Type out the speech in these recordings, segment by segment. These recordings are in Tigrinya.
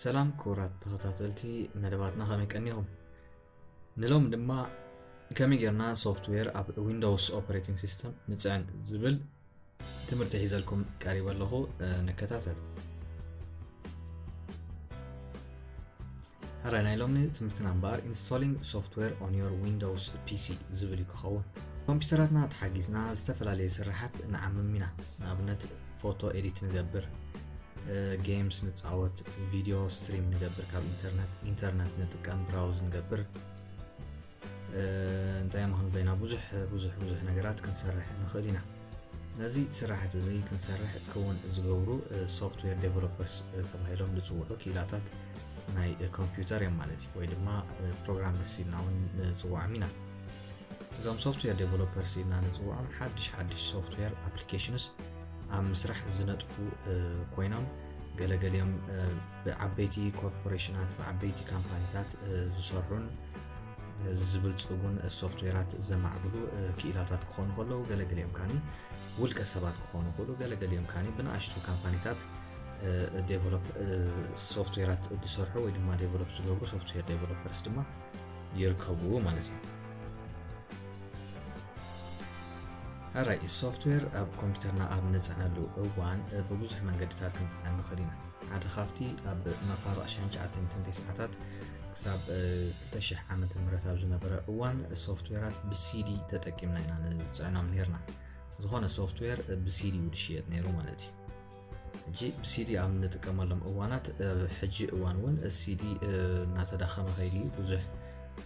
ሰላም ክቡራት ተኸታተልቲ መደባትና ከመይ ቀኒኹም ንሎም ድማ ከመይ ጌርና ሶፍትዌር ኣብ ዊንዶውስ ኦፐሬቲንግ ሲስተም ንፅዕን ዝብል ትምህርቲ ሒዘልኩም ቀሪበ ኣለኹ ንከታተል ራይ ናይ ሎሚ ትምህርትና እምበኣር ኢንስቶሊንግ ሶፍትዌር ኦን ዮር ዊንዶውስ ፒሲ ዝብል እዩ ክኸውን ኮምፒውተራትና ተሓጊዝና ዝተፈላለዩ ስራሓት ንዓምም ኢና ንኣብነት ፎቶ ኤዲት ንገብር ጌምስ ንፃወት ቪድዮ ስትሪም ንገብር ካብ ኢንተርነት ኢንተርነት ንጥቀም ብራውዝ ንገብር እንታይ ምክን ኮይና ብዙሕ ብዙሕ ብዙሕ ነገራት ክንሰርሕ ንኽእል ኢና ነዚ ስራሕት እዚ ክንሰርሕ ክውን ዝገብሩ ሶፍትዌር ዴቨሎፐርስ ተባሂሎም ዝፅውዑ ክኢላታት ናይ ኮምፒውተር እዮም ማለት እዩ ወይ ድማ ፕሮግራመርስ ኢልና እውን ንፅዋዕም ኢና እዞም ሶፍትዌር ዴቨሎፐርስ ኢልና ንፅውዖም ሓድሽ ሓድሽ ሶፍትዌር ኣፕሊኬሽንስ ኣብ ምስራሕ ዝነጥፉ ኮይኖም ገለገሊኦም ብዓበይቲ ኮርፖሬሽናት ብዓበይቲ ካምፓኒታት ዝሰርሑን ዝብልፅጉን ሶፍትዌራት ዘማዕብሉ ክኢላታት ክኾኑ ከለዉ ገለገሊኦም ካኒ ውልቀ ሰባት ክኾኑ ክእሉ ገለገሊኦም ካኒ ብንኣሽቱ ካምፓኒታት ዴቨሎፕ ሶፍትዌራት ዝሰርሑ ወይ ድማ ዴቨሎፕ ዝገብሩ ሶፍትዌር ዴቨሎፐርስ ድማ ይርከብዎ ማለት እዩ ራይ ሶፍትዌር ኣብ ኮምፒውተርና ኣብ ንፅዕነሉ እዋን ብብዙሕ መንገድታት ክንፅዕን ንኽእል ኢና ሓደ ካብቲ ኣብ መፋርቕ 1900 ሰዓታት ክሳብ 2000 ዓመተ ምህረት ኣብ ዝነበረ እዋን ሶፍትዌራት ብሲዲ ተጠቂምና ኢና ንፅዕኖም ነርና ዝኾነ ሶፍትዌር ብሲዲ እዩ ዝሽየጥ ነይሩ ማለት እዩ ሕጂ ብሲዲ ኣብ ንጥቀመሎም እዋናት ሕጂ እዋን እውን ሲዲ እናተዳኸመ ከይድ እዩ ብዙሕ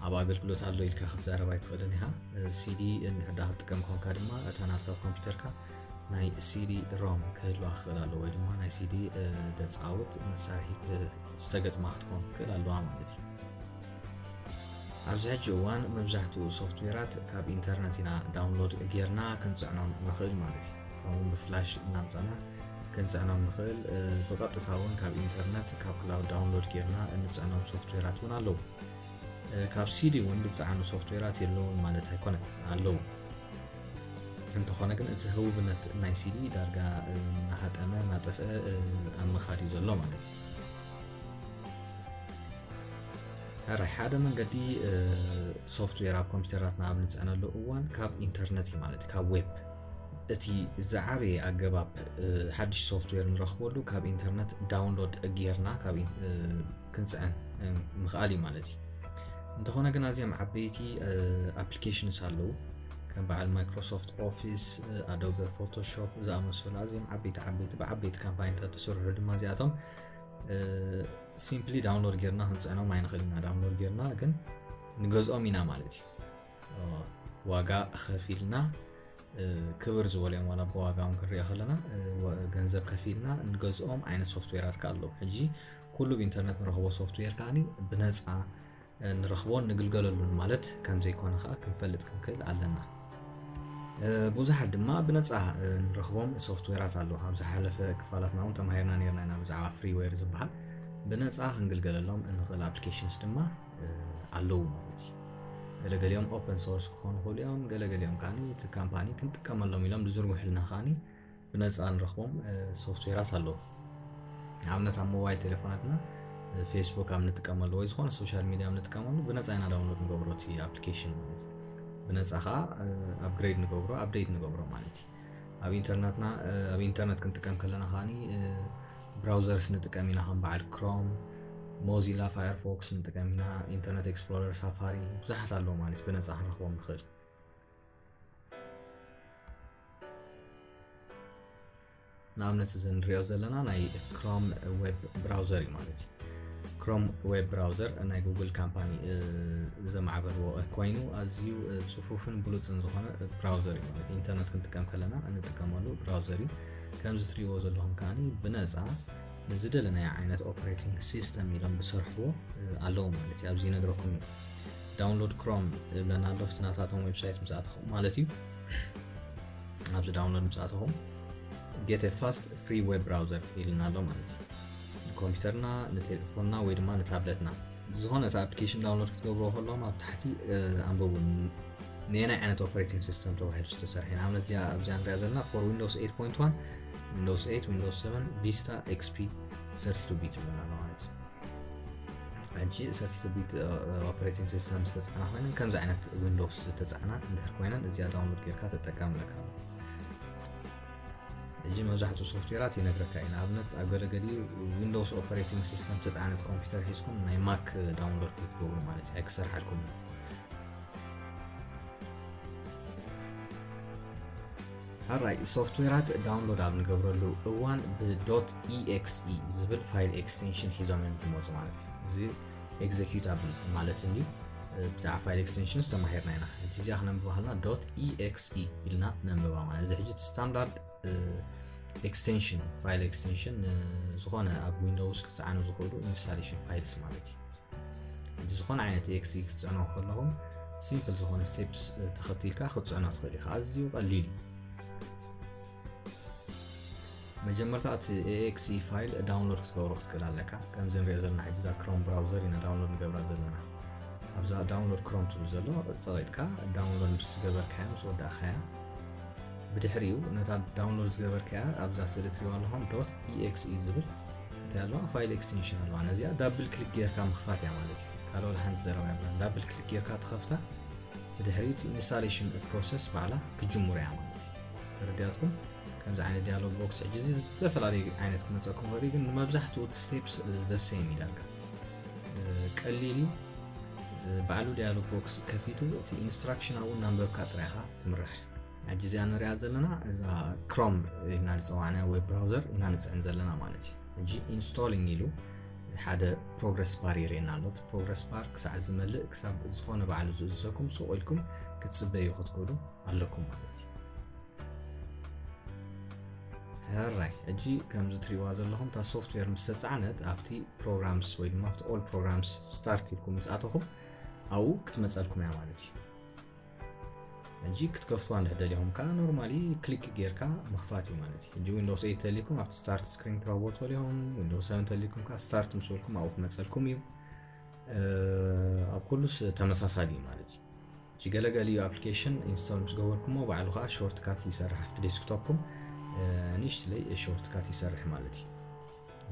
ኣብ ኣገልግሎት ኣሎ ኢልካ ክትዛረብ ኣይትኽእልን ኢኻ ሲዲ እንድሕዳ ክትጥቀም ኮንካ ድማ እታ ናትካ ኮምፒውተርካ ናይ ሲዲ ሮም ክህልዋ ክኽእል ኣለዎ ወይ ድማ ናይ ሲዲ ደፃውት መሳርሒ ዝተገጥማ ክትኮን ክኽእል ኣለዋ ማለት እዩ ኣብዚ ሕጂ እዋን መብዛሕትኡ ሶፍትዌራት ካብ ኢንተርነት ኢና ዳውንሎድ ጌርና ክንፅዕኖም ንኽእል ማለት እዩ ከምኡውን ብፍላሽ እናምፃና ክንፅዕኖም ንኽእል ብቐጥታ እውን ካብ ኢንተርነት ካብ ክላውድ ዳውንሎድ ጌርና እንፅዕኖም ሶፍትዌራት እውን ኣለዉ ካብ ሲዲ እውን ዝፀዓኑ ሶፍትዌራት የለውን ማለት ኣይኮነን ኣለዉ እንተኾነ ግን እቲ ህቡብነት ናይ ሲዲ ዳርጋ ናሃጠመ ናጠፍአ ኣብ ምኻድ እዩ ዘሎ ማለት እዩ ሕራይ ሓደ መንገዲ ሶፍትዌር ኣብ ኮምፒውተራትና ኣብ ንፅዕነሉ እዋን ካብ ኢንተርነት እዩ ማለት ካብ ዌብ እቲ ዝዓበየ ኣገባብ ሓድሽ ሶፍትዌር ንረኽበሉ ካብ ኢንተርነት ዳውንሎድ ጌርና ክንፅዕን ምኽኣል እዩ ማለት እዩ እንተኾነ ግን ኣዝዮም ዓበይቲ ኣፕሊኬሽንስ ኣለዉ ከም በዓል ማይክሮሶፍት ኦፊስ ኣዶበ ፎቶሾፕ ዝኣመሰሉ ኣዝዮም ዓበይቲ ዓበይቲ ብዓበይቲ ካምፓኒታት ዝስርሑ ድማ እዚኣቶም ሲምፕሊ ዳውንሎድ ጌርና ክንፅዕኖም ኣይንኽእል ኢና ዳውንሎድ ጌርና ግን ንገዝኦም ኢና ማለት እዩ ዋጋ ከፊልና ክብር ዝበልዮም ዋላ ብዋጋኦም ክንሪኦ ከለና ገንዘብ ከፊልና ንገዝኦም ዓይነት ሶፍትዌራት ከ ኣለዉ ሕጂ ኩሉ ብኢንተርነት ንረኽቦ ሶፍትዌር ከዓኒ ብነፃ ንረኽቦን ንግልገለሉን ማለት ከም ዘይኮነ ከኣ ክንፈልጥ ክንክእል ኣለና። ብዙሓት ድማ ብነፃ ንረኽቦም ሶፍትዌራት ኣለዉ። ኣብ ዝሓለፈ ክፋላትና እውን ተማሂርና ነርና ኢና ብዛዕባ ፍሪዌር ዝበሃል ብነፃ ክንግልገለሎም እንኽእል ኣፕሊኬሽንስ ድማ ኣለዉ ማለት እዩ። ገለገሊኦም ኦፐን ሶርስ ክኾኑ ይኽእሉ እዮም ገለገሊኦም ከዓኒ እቲ ካምፓኒ ክንጥቀመሎም ኢሎም ዝዝርግሑልና ከዓኒ ብነፃ ንረኽቦም ሶፍትዌራት ኣለዉ ንኣብነት ኣብ ሞባይል ቴሌፎናትና ፌስቡክ ኣብ ንጥቀመሉ ወይ ዝኾነ ሶሻል ሚዲያ ኣብ ንጥቀመሉ ብነፃ ኢና ዳውንሎድ ንገብሮ እቲ ኣፕሊኬሽን ማለት እዩ ብነፃ ከዓ ኣፕግሬድ ንገብሮ ኣፕዴት ንገብሮ ማለት እዩ ኣብ ኢንተርነትና ኣብ ኢንተርነት ክንጥቀም ከለና ከዓኒ ብራውዘርስ ንጥቀም ኢና ከም በዓል ክሮም ሞዚላ ፋየርፎክስ ንጥቀም ኢና ኢንተርነት ኤክስፕሎረር ሳፋሪ ብዙሓት ኣለዉ ማለት ብነፃ ክንረኽቦም ንኽእል ንኣብነት እዚ ንሪኦ ዘለና ናይ ክሮም ዌብ ብራውዘር እዩ ማለት እዩ ክሮም ዌብ ብራውዘር ናይ ጉግል ካምፓኒ ዘማዕበልዎ ኮይኑ ኣዝዩ ፅፉፍን ብሉፅን ዝኾነ ብራውዘር እዩ ማለት ኢንተርነት ክንጥቀም ከለና እንጥቀመሉ ብራውዘር እዩ ከምዚ ትሪእዎ ዘለኹም ከዓ ብነፃ ንዝደለናዮ ዓይነት ኦፕሬቲንግ ሲስተም ኢሎም ዝሰርሕዎ ኣለዉ ማለት እዩ ኣብዚ ይነግረኩም እዩ ዳውንሎድ ክሮም እብለና ኣሎ ፍቲ ናታቶም ዌብሳይት ምስ ኣተኹም ማለት እዩ ኣብዚ ዳውንሎድ ምስ ኣተኹም ጌት ፋስት ፍሪ ዌብ ብራውዘር ኢልና ኣሎ ማለት እዩ ንኮምፒውተርና ንቴሌፎንና ወይ ድማ ንታብለትና ዝኾነ እቲ ኣፕሊኬሽን ዳውንሎድ ክትገብሮ ከሎም ኣብ ታሕቲ ኣንበቡ ንየናይ ዓይነት ኦፐሬቲንግ ሲስተም ተባሂሉ ዝተሰርሐ ንኣብነት እዚኣ ኣብዚኣ ንሪኣ ዘለና ፎር ዊንዶስ 8.1 ዊንዶስ 8 ዊንዶስ 7 ቪስታ ኤክስፒ 32 ቢት ይብለና ኣሎ ማለት እዩ ሕጂ ሰርቲ ቢት ኦፕሬቲንግ ሲስተም ዝተፃዕና ኮይነን ከምዚ ዓይነት ዊንዶውስ ዝተፃዕና እንድሕር ኮይነን እዚኣ ዳውንሎድ ጌርካ ተጠቀምለካ ኣሎ ሕጂ መብዛሕትኡ ሶፍትዌራት ይነግረካ እዩ ንኣብነት ኣብ ገለገሊኡ ዊንዶውስ ኦፕሬቲንግ ሲስተም ተፃዕነት ኮምፒውተር ሒዝኩም ናይ ማክ ዳውንሎድ ክትገብሩ ማለት እዩ ኣይክሰርሓልኩም እዩ ሐራይ ሶፍትዌራት ዳውንሎድ ኣብ ንገብረሉ እዋን ብዶት ኢኤክስኢ ዝብል ፋይል ኤክስቴንሽን ሒዞም እዮም ዝመፁ ማለት እዩ እዚ ኤግዜኪዩት ኣብ ማለት እንዲ ብዛዕባ ፋይል ኤክስቴንሽንስ ተማሂርና ኢና ሕጂ እዚኣ ክነንብባ ከለና ዶት ኢኤክስኢ ኢልና ነንብባ ማለት እዚ ሕጂ ስታንዳርድ ኤክስቴንሽን ፋይል ኤክስቴንሽን ዝኾነ ኣብ ዊንዶውስ ክፀዓኑ ዝኽእሉ ኢንስታሌሽን ፋይልስ ማለት እዩ ዝኾነ ዓይነት ኤክሲ ክትፅዕኖ ከለኹም ሲምፕል ዝኾነ ስቴፕስ ተኸቲልካ ክትፅዕኖ ትኽእል ኢኻ ኣዝዩ ቀሊል እዩ መጀመርታ እቲ ኤኤክሲ ፋይል ዳውንሎድ ክትገብሮ ክትክእል ኣለካ ከምዚ ንሪኦ ዘለና ሕጂ እዛ ክሮም ብራውዘር ኢና ዳውንሎድ ንገብራ ዘለና ኣብዛ ዳውንሎድ ክሮም ትብል ዘሎ ፀቂጥካ ዳውንሎድ ምስ ዝገበርካያ ምስ ወዳእካያ ብድሕሪኡ ነታ ዳውንሎድ ዝገበርካያ ኣብዛ ስእሊ ትሪዋ ኣለኹም ዶት ኢኤክስኢ ዝብል እንታይ ኣለዋ ፋይል ኤክስቴንሽን ኣለዋ ነዚኣ ዳብል ክሊክ ጌርካ ምኽፋት እያ ማለት እዩ ካልኦ ሓንቲ ዘረባ እያ ዳብል ክሊክ ጌርካ ትኸፍታ ብድሕሪት ኢንስታሌሽን ፕሮሰስ ባዕላ ክጅምሩ እያ ማለት እዩ ተረዲያትኩም ከምዚ ዓይነት ዲያሎግ ቦክስ ሕጂ እዚ ዝተፈላለዩ ዓይነት ክመፀኩም ወሪ ግን ንመብዛሕትኡ ስቴፕስ ዘሰይም እዩ ዳርጋ ቀሊል እዩ ባዕሉ ዲያሎግ ቦክስ ከፊቱ እቲ ኢንስትራክሽን ኣብኡ እናንበብካ ጥራይኻ ትምራሕ ሕጂ እዚኣ ንሪኣ ዘለና እዛ ክሮም ኢልና ንፅዋዕ ናይ ዌብ ብራውዘር ኢና ንፅዕን ዘለና ማለት እዩ ሕጂ ኢንስቶሊንግ ኢሉ ሓደ ፕሮግረስ ባር የርእየና ኣሎ እቲ ፕሮግረስ ባር ክሳዕ ዝመልእ ክሳብ ዝኾነ ባዕሉ ዝእዝዘኩም ሱቕ ኢልኩም ክትፅበዩ ክትክእሉ ኣለኩም ማለት እዩ ሕራይ ሕጂ ከምዚ ትሪእዋ ዘለኹም እታ ሶፍትዌር ምስ ተፃዕነት ኣብቲ ፕሮግራምስ ወይ ድማ ኣብቲ ኦል ፕሮግራምስ ስታርት ኢልኩም ምስ ኣተኹም ኣብኡ ክትመፀልኩም እያ ማለት እዩ ሕጂ ክትከፍትዋ እንድሕር ደሊኹም ከዓ ኖርማሊ ክሊክ ጌርካ ምኽፋት እዩ ማለት እዩ ሕጂ ዊንዶውስ 8 ተሊኩም ኣብቲ ስታርት ስክሪን ክረክቦ ትኽእሉ ኢኹም ዊንዶውስ 7 ተሊኩም ከዓ ስታርት ምስ በልኩም ኣብኡ ክመፀልኩም እዩ ኣብ ኩሉስ ተመሳሳሊ እዩ ማለት እዩ ሕጂ ገለገሊኡ ኣፕሊኬሽን ኢንስቶል ምስ ገበርኩሞ ባዕሉ ከዓ ሾርት ካት ይሰርሕ ኣብቲ ዴስክቶፕኩም ንእሽትለይ ሾርት ካት ይሰርሕ ማለት እዩ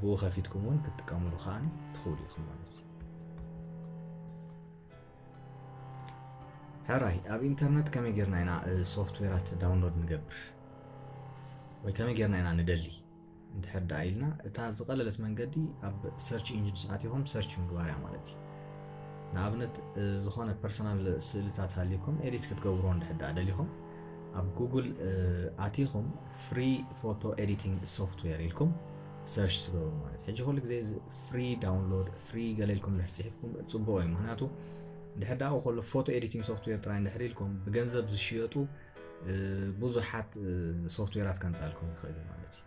ብኡ ከፊትኩም እውን ክትጥቀምሉ ከዓ ትኽእሉ ኢኹም ማለት እዩ ሕራይ ኣብ ኢንተርነት ከመይ ጌርና ኢና ሶፍትዌራት ዳውንሎድ ንገብር ወይ ከመይ ጌርና ኢና ንደሊ እንድሕር ደኣ ኢልና እታ ዝቐለለት መንገዲ ኣብ ሰርች ኢንጂንስ ኣትኹም ሰርች ምግባር እያ ማለት እዩ ንኣብነት ዝኾነ ፐርሰናል ስእልታት ሃልዩኩም ኤዲት ክትገብሮ እንድሕር ደኣ ደሊኹም ኣብ ጉግል ኣቲኹም ፍሪ ፎቶ ኤዲቲንግ ሶፍትዌር ኢልኩም ሰርች ትገብሩ ማለት ሕጂ ኩሉ ግዜ ፍሪ ዳውንሎድ ፍሪ ገለ ኢልኩም እንድሕር ጽሒፍኩም ጽቡቕ እዩ ምክንያቱ ድሕር ዳኡ ከሎ ፎቶ ኤዲቲንግ ሶፍትዌር ጥራይ እንድሕር ኢልኩም ብገንዘብ ዝሽየጡ ብዙሓት ሶፍትዌራት ከምጻልኩም ይኽእል እዩ ማለት እዩ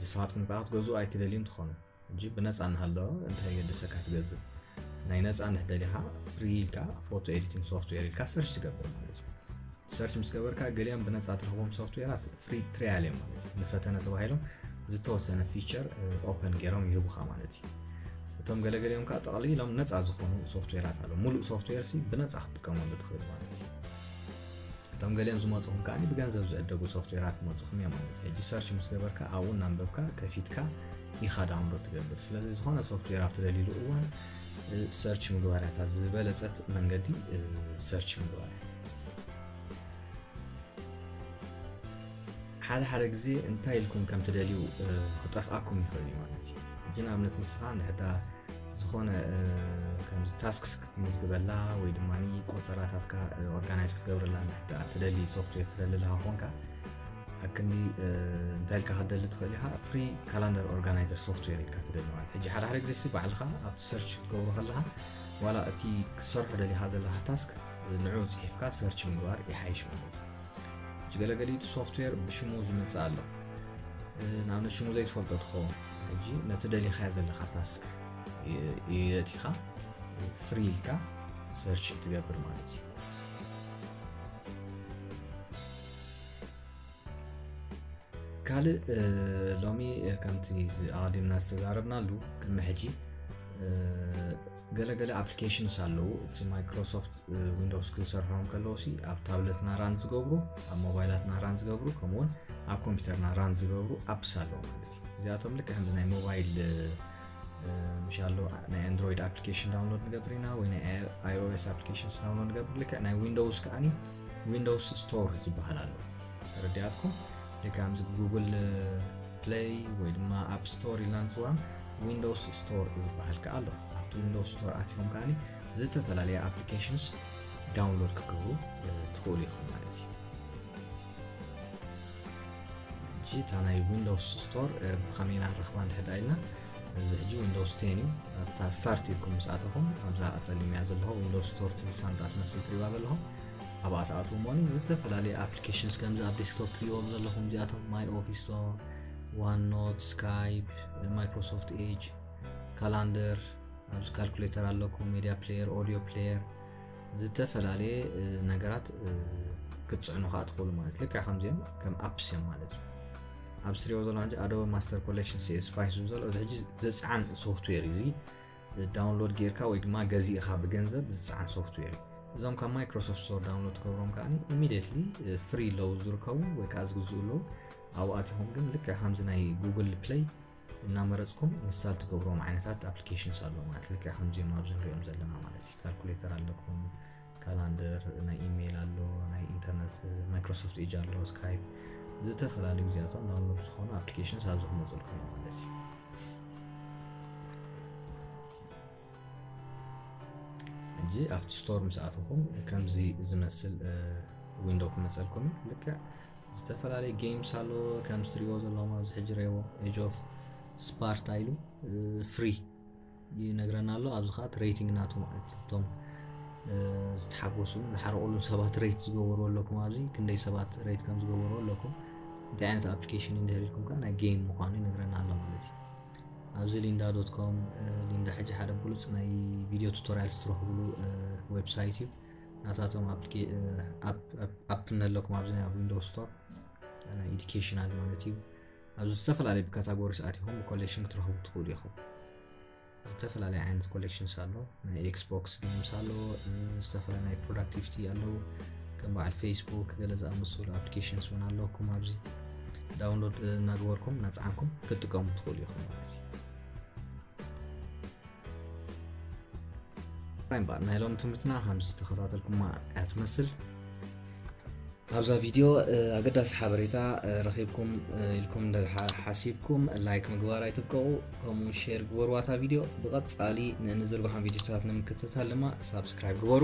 ንስኻትኩም ከዓ ክትገዝኡ ኣይትደልዩን ትኾኑ እንጂ ብነፃ እናሃለወ እንታይ የገድሰካ ትገዝእ ናይ ነፃ ንሕደሊኻ ፍሪ ኢልካ ፎቶ ኤዲቲንግ ሶፍትዌር ኢልካ ሰርች ትገብር ማለት እዩ ሰርች ምስ ገበርካ ገሊኦም ብነፃ ትረኽቦም ሶፍትዌራት ፍሪ ትሪያል እዮም ማለት እዩ ንፈተነ ተባሂሎም ዝተወሰነ ፊቸር ኦፐን ገይሮም ይህቡኻ ማለት እዩ እቶም ገለገሊኦም ከዓ ጠቕሊሎም ነፃ ዝኾኑ ሶፍትዌራት ኣለዉ ሙሉእ ሶፍትዌር ሲ ብነፃ ክትጥቀመሉ ትኽእል ማለት እዩ እቶም ገሊኦም ዝመፅኹም ከዓ ብገንዘብ ዝዕደጉ ሶፍትዌራት ክመፅኹም እዮም ማለት እዩ ሕጂ ሰርች ምስ ገበርካ ኣብኡ እናንበብካ ከፊትካ ኢኻ ዳውንሎድ ትገብር ስለዚ ዝኾነ ሶፍትዌር ኣብ ትደልይሉ እዋን ሰርች ምግባር እያ ዝበለፀት መንገዲ ሰርች ምግባር ሓደ ሓደ ግዜ እንታይ ኢልኩም ከም ትደልዩ ክጠፍኣኩም ይኽእል እዩ ማለት እዩ ሕጂ ንኣብነት ንስኻ ንሕዳ ዝኾነ ከምዚ ታስክስ ክትምዝግበላ ወይ ድማ ቆፀራታትካ ኦርጋናይዝ ክትገብረላ ንሕዳ ትደሊ ሶፍትዌር ትደሊ ኣለኻ ኮንካ ሓቅኒ እንታይ ኢልካ ክትደሊ ትኽእል ኢኻ ፍሪ ካላንደር ኦርጋናይዘር ሶፍትዌር ኢልካ ትደሊ ማለት ሕጂ ሓደ ሓደ ግዜሲ ባዕልኻ ኣብቲ ሰርች ክትገብሮ ከለኻ ዋላ እቲ ክትሰርሖ ደሊኻ ዘለካ ታስክ ንዑ ፅሒፍካ ሰርች ምግባር ይሓይሽ ማለት እዩ ገለገሊ ሶፍትዌር ብሽሙ ዝመፅእ ኣሎ ንኣብነት ሽሙ ዘይትፈልጦ ትኸውን ሕጂ ነቲ ደሊኻዮ ዘለካ ታስክ የእቲኻ ፍሪ ኢልካ ሰርች ትገብር ማለት እዩ ካልእ ሎሚ ከምቲ ኣቐዲምና ዝተዛረብናሉ ቅድሚ ሕጂ ገለገለ ኣፕሊኬሽንስ ኣለዉ እቲ ማይክሮሶፍት ዊንዶስ ክዝሰርሖም ከለዉ ሲ ኣብ ታብለትና ራን ዝገብሩ ኣብ ሞባይላትና ራን ዝገብሩ ከምኡውን ኣብ ኮምፒውተርና ራን ዝገብሩ ኣፕስ ኣለዉ ማለት እዩ እዚኣቶም ልክ ከምዚ ናይ ሞባይል ምሽ ኣሎ ናይ ኣንድሮይድ ኣፕሊኬሽን ዳውንሎድ ንገብር ኢና ወይ ናይ ኣይኦኤስ ኣፕሊኬሽንስ ዳውንሎድ ንገብር ልክዕ ናይ ዊንዶውስ ከዓኒ ዊንዶውስ ስቶር ዝበሃል ኣሎ ተረዲኣትኩም ከምዚ ጉግል ፕለይ ወይ ድማ ኣብ ስቶር ኢልና ንፅውዖም ዊንዶውስ ስቶር ዝበሃል ከዓ ኣሎ ኣብቲ ዊንዶውስ ስቶር ኣትኹም ከዓ ዝተፈላለየ ኣፕሊኬሽንስ ዳውንሎድ ክትገብሩ ትኽእሉ ኢኹም ማለት እዩ እሺ እታ ናይ ዊንዶውስ ስቶር ብኸመይ ኢና ንረኽባ እንድሕር ዳ ኢልና እዚ ሕጂ ዊንዶውስ ቴን እዩ ኣብታ ስታርት ኢልኩም ምስ ኣተኹም ኣብዛ ጸሊምያ ዘለኹ ዊንዶውስ ስቶር ትብል ሳንጣ ትመስል ትሪባ ዘለኹም ኣብኣ ትኣትዉ እሞኒ ዝተፈላለዩ ኣፕሊኬሽንስ ከምዚ ኣብ ዴስክቶፕ ትሪዎም ዘለኹም እዚኣቶም ማይ ኦፊስ ዶ ዋን ኖት ስካይፕ ማይክሮሶፍት ኤጅ ካላንደር ኣብዚ ካልኩሌተር ኣለኩም ሜድያ ፕሌየር ኦዲዮ ፕሌየር ዝተፈላለየ ነገራት ክትፅዕኑ ከዓ ትኽእሉ ማለት ልካ ከምዚኦም ከም ኣፕስ እዮም ማለት እዩ ኣብ ስትሪዮ ዘሎ ን ኣዶበ ማስተር ኮሌክሽን ሲኤስ ፋይሱ ዘሎ እዚ ሕጂ ዝፅዓን ሶፍትዌር እዩ እዚ ዳውንሎድ ጌርካ ወይ ድማ ገዚእኻ ብገንዘብ ዝፅዓን ሶፍትዌር እዩ እዞም ካብ ማይክሮሶፍት ስቶር ዳውንሎድ ትገብሮም ከዓ ኢሚድትሊ ፍሪ ለው ዝርከቡ ወይ ከዓ ዝግዝኡ ኣለዉ ኣብኣትኹም ግን ልክዕ ከምዚ ናይ ጉግል ፕለይ እናመረፅኩም ንሳል ትገብርዎም ዓይነታት ኣፕሊኬሽንስ ኣለዉ ማለት ልክዕ ከምዚኦም ኣብዚ ንሪኦም ዘለና ማለት እዩ ካልኩሌተር ኣለኩም ካላንደር ናይ ኢሜይል ኣሎ ናይ ኢንተርነት ማይክሮሶፍት ኤጅ ኣሎ ስካይፕ ዝተፈላለዩ ግዚያቶም ዳውንሎድ ዝኾኑ ኣፕሊኬሽንስ ኣብዚ ክመፅልኩም ማለት እዩ ሕጂ ኣብቲ ስቶር ምስ ኣተኹም ከምዚ ዝመስል ዊንዶ ክመፀልኩም እዩ ልክዕ ዝተፈላለዩ ጌምስ ኣሎ ከም ስትሪዎ ዘለዎም ኣብዚ ሕጂ ረዎ ኤጅ ኦፍ ስፓርታ ኢሉ ፍሪ ይነግረና ኣሎ ኣብዚ ከዓ ትሬቲንግ ናቱ ማለት እቶም ዝተሓጎሱ ዝሓረቁሉ ሰባት ሬት ዝገበሩ ኣለኩም ኣብዚ ክንደይ ሰባት ሬት ከም ዝገበሩ ኣለኩም እንታይ ዓይነት ኣፕሊኬሽን እንድህር ኢልኩም ከዓ ናይ ጌም ምኳኑ ይነግረና ኣሎ ማለት እዩ ኣብዚ ሊንዳ ዶት ኮም ሊንዳ ሕጂ ሓደ ብሉፅ ናይ ቪድዮ ቱቶሪያልስ ትረኽብሉ ዌብሳይት እዩ ናታቶም ኣፕ ኣለኩም ኣብዚ ኣብ ዊንዶ ስቶር ናይ ኤዱኬሽናል ማለት እዩ ኣብዚ ዝተፈላለዩ ብካታጎሪስ ኣትኹም ብኮሌክሽን ክትረኽቡ ትኽእሉ ኢኹም ዝተፈላለየ ዓይነት ኮሌክሽንስ ኣሎ ናይ ኤክስቦክስ ገምስ ኣሎ ዝተፈላለዩ ናይ ፕሮዳክቲቪቲ ኣለዉ ከም በዓል ፌስቡክ ገለ ዝኣመሰሉ ኣፕሊኬሽንስ እውን ኣለኩም ኣብዚ ዳውንሎድ እናገበርኩም እናፀዓንኩም ክትጥቀሙ ትኽእሉ ኢኹም ማለት እዩ ራይምባ ናይ ሎሚ ትምህርትና ከምዚ ዝተኸታተልኩማ እያ ትመስል ኣብዛ ቪድዮ ኣገዳሲ ሓበሬታ ረኺብኩም ኢልኩም ሓሲብኩም ላይክ ምግባር ኣይትብቀቑ ከምኡ ሼር ግበርዋታ ቪድዮ ብቐፃሊ ንዝርባሓን ቪድዮታት ንምክትታል ድማ ሳብስክራይብ ግበሩ